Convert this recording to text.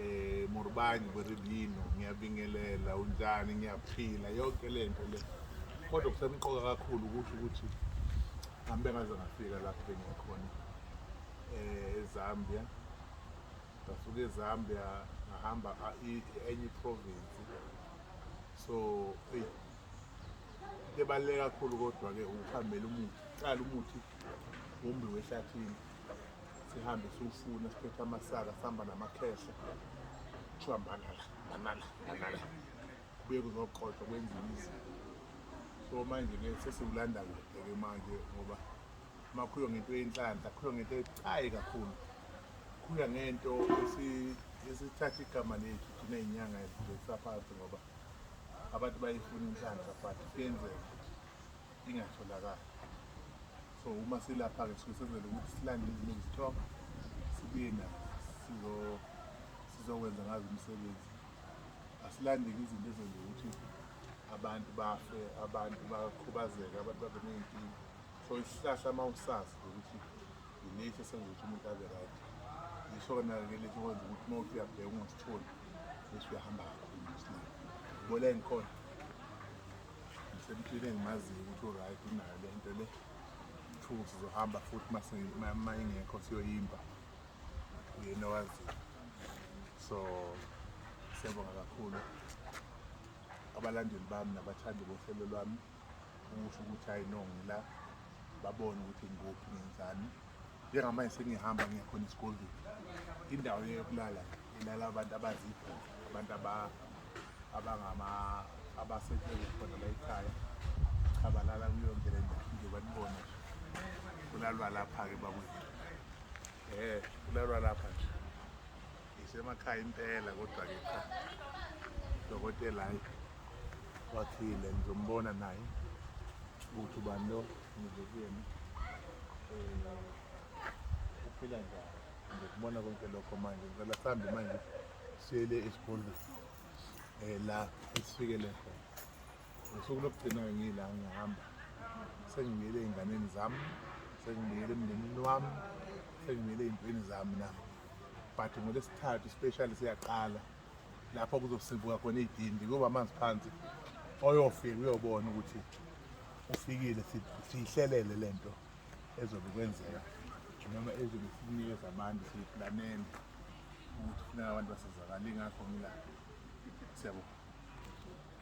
eh Morbanyi Beribino ngiyabingelela unjani ngiyaphila yonke lento le kodwa kusemqoka kakhulu ukuthi ukuthi ngihambe ngaze ngafika lapho bengikhona eh eZambia ngasuka eZambia ngahamba enye province so hey into ebaluleke kakhulu kodwa ke ukuhambela umuthi cala umuthi wombi wehlathini sihambe siwufuna siphethe amasaka sihamba namakhehla kuthiwa manala manala manala kubuye kuzoqothwa kwenziwa izinto so manje-ke sesiwulanda kude-ke manje ngoba uma khuywa ngento yenhlanhla khuywa ngento ebucayi kakhulu khuywa ngento esithatha igama lethu thina inyanga ezisaphansi ngoba abantu bayifuna inhlanhla but kuyenzeka ingatholakali so uma silapha-ke suke senzele ukuthi silande izinto ezitop sibuye nazo sizokwenza ngazo umsebenzi asilandeki izinto ezenza ukuthi abantu bafe abantu bakhubazeke abantu babe ney'nkinga so isihlahla uma usazi ukuthi yilesi esenza ukuthi umuntu abe right yisho-ke nake lesi kwenza ukuthi uma uthi uyabheka ungasitholi bese uyahamba kakhulu msina bola engikhona Ngisemtshile engimaziyo ukuthi uright unayo le nto le kuthiwa sizohamba futhi uma ingekho siyoyimba uyena owaziyo so siyabonga kakhulu abalandeli bami nabathandi bohlelo lwami ukusho ukuthi hayi no ngila babone ukuthi ngikuphi ngenzani njengamanje sengihamba ngiya khona esikoleni indawo yokulala ilala abantu abazipho abantu abangama abasebenzi khona la ekhaya cha balala kuyonke le ndawo nje banibona kulalwa lapha-ke bakwethu um kulalwa lapha nje Ngisemakhaya impela kodwa ke cha. Dokotela hayi wathile ngizombona naye ukuthi ubani lo ngize kuyena eh, uphila njani ngikubona konke lokho manje ngicela sihambe manje siyele esikolweni um eh, la esifikele khona ngosuku lokugcina ngila ngihamba sengibuyele ey'nganeni zami sengibuyele emndenini wami sengibuyele ey'ntweni zami na but ngolesithathu specially siyaqala lapho kuzosibuka khona iy'dindi kuba amanzi phansi oyofika uyobona ukuthi ufikile siyihlelele le nto ezobe kwenzeka noma ezobe sinikeza abantu siyiplaneni ukuthi funeka abantu basizakale ingakho ngila siyabona